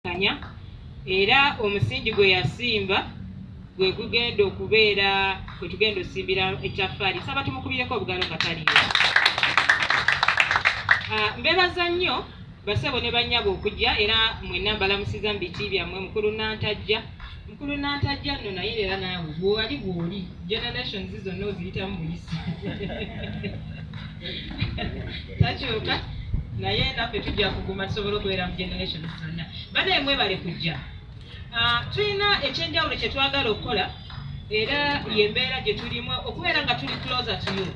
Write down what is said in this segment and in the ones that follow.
kanya era omusingi gwe yasimba gwe gugenda okubeera gwe tugenda osimbira ekyaffaali saba tumukubireko obugalo nga taliyo ah, mbebaza nnyo basebo ne banyabo okujja era mwenna mbalamusiza mu biti byammwe mukulu nantajja Mukulu Nantajja nno naye era naawe bw'oli bw'oli generations zonna oziyitamu buyisi takyuka naye naffe tujja kuguma tusobole okubeera mu generations zonna banaye mwebale kujja ah, tulina ekyenjawulo kye twagala okukola era yembeera gye tulimu okubeera nga tuli closer to you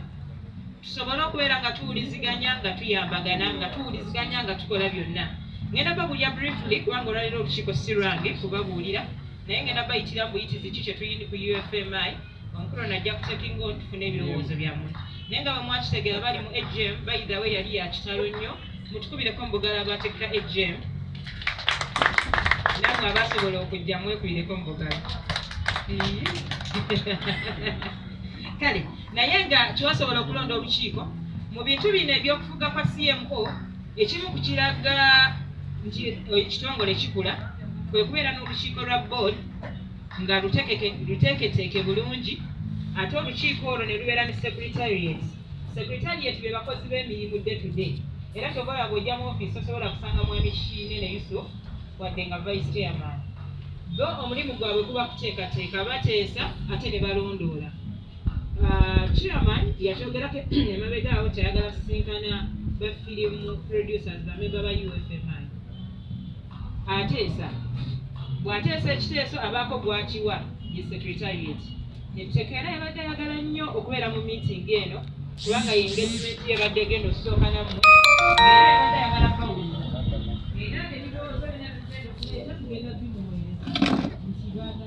tusobole okubeera nga tuwuliziganya nga tuyambagana nga tuwuliziganya nga tukola byonna ngenda babulira briefly kubanga olwaliro olukiiko si lwange kubabuulira naye ngenda bayitira mbuyitizi ki kyetuyini ku ufmi omukulu najja kutekinga otufuna ebirowoozo byammwe naye nga bamwakitegera bali mu agm bayidawe yali yakitalo nnyo mutukubireko mubugala abateeka agm namwe abasobola okujja mwekubireko mubugala kale naye nga kyosobola okulonda olukiiko mu bintu bino ebyokufuga kwa cmo ekimu ku kiraga nti ekitongole kikula kwe kubeera n'olukiiko lwa board nga luteeketeeke bulungi ate olukiiko olwo ne lubeera ne secretariat secretariat be bakozi b'emirimu day to day era kyobola bwojja mu ofiisi osobola kusanga mwami kiine ne yusuf wadde nga vice chairman bo omulimu gwabwe kuba kuteekateeka bateesa ate ne balondoola Uh, chairman yakyogerako emabega awo tayagala sisinkana ba film producers bamemba ba ufmi ateesa bw'ateesa ekiteeso abaako gwakiwa ye secretariat etteeka era yabadde ayagala nnyo okubeera mu meeting eno kubanga ye engagement ye ebadde egenda okusooka namu era yabadde ayagala kawulira era ebirowoozo byona bigenda okuleeta tugenda bimuweereza nti baga